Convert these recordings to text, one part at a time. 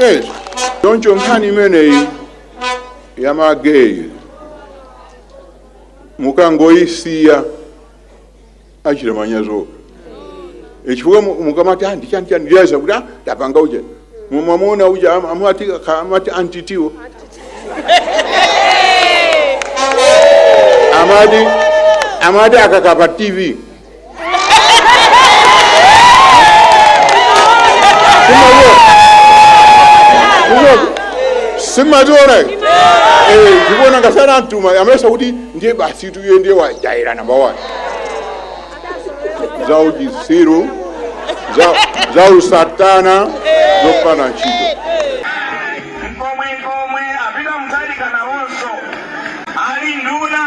Eh, choncho nkhani imeneyi ya mageyi mukangoyisiya achita manyazi chifukwa mu- mukamati anti chani chani leza kuti "Ah, tapanga uja mumamuona uja am- amati ka- amati antitiwo amati amati akakapa tv simationa ndikuona ngati anamtuma amesa kuti ndiye basi tuye ndiye wajaira namba one za uchisiru za, za usatana zopanda ntchito ali nduna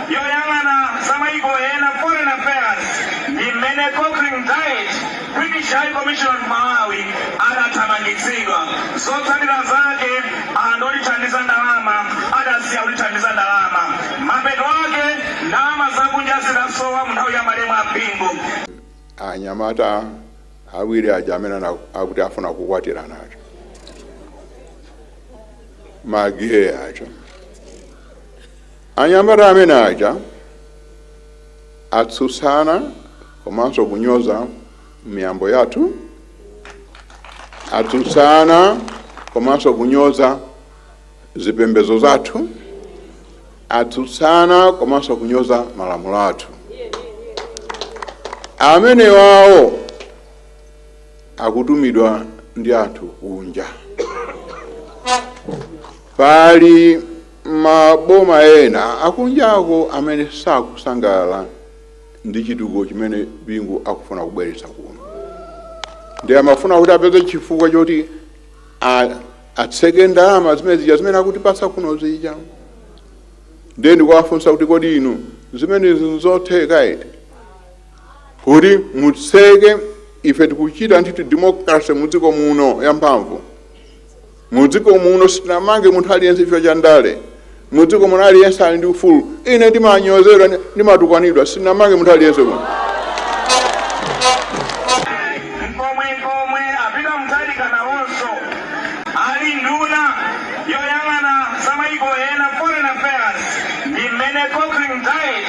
yoyang'ana za mayiko ena foreign affairs ndi mmene Cochrane-Dyet British High Commissioner Malawi adathamangitsidwa zotsatira zake anthu olithandiza ndalama adasiya kulithandiza ndalama mapeto ake ndalama zakunja zidasowa mu nthawi ya malemu a Bingu anyamata awiri aja amene ana- akuti afuna kukwatirana aja mageyi aja anyamata amene aja atsutsana komanso kunyoza miyambo yathu atsutsana komanso kunyoza zipembedzo zathu atsutsana komanso kunyoza malamulo athu amenewawo akutumidwa ndi anthu kunja. Pali maboma ena akunjako amene sakusangalala ndi chitukuko chimene Bingu akufuna kubweretsa kuno, ndiye amafuna kuti apeze chifukwa choti atseke ndalama zimene zija zimene akutipatsa kuno zija. Ndiye ndikuwafunsa kuti kodi inu zimenezi nzotheka eti? kuti mutseke ife tikuchita ndithu democracy mu dziko muno yamphamvu mu dziko muno sitinamange munthu aliyense chifukwa cha ndale mu dziko muno aliyense ali ndi ufulu ine ndimanyozedwa ndi- ndimatukwanidwa sitinamange munthu aliyense muno mkomwe pomwe a Peter Mutharika nawonso ali nduna yoyang'ana za maiko ena foreign affairs ndi mmene Cochrane-Dyet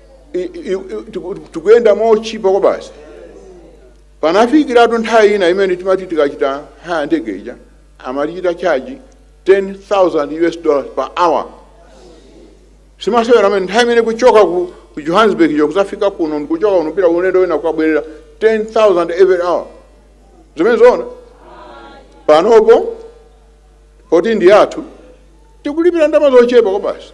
i- i- i- tiku- tikuyenda mochipa kwa basi panafikiratu nthawi ina imene timati tikachita haya ndege ija amatichita chaji 10000 us dollars per hour simasewera amene nthawi imene kuchoka ku ku johannesburg jo kuzafika kuno ndikuchoka kuno kupita ulendo wina kukabwerera 10000 every hour zimene zoona panopo poti ndi athu tikulipira ndalama zochepa kwa basi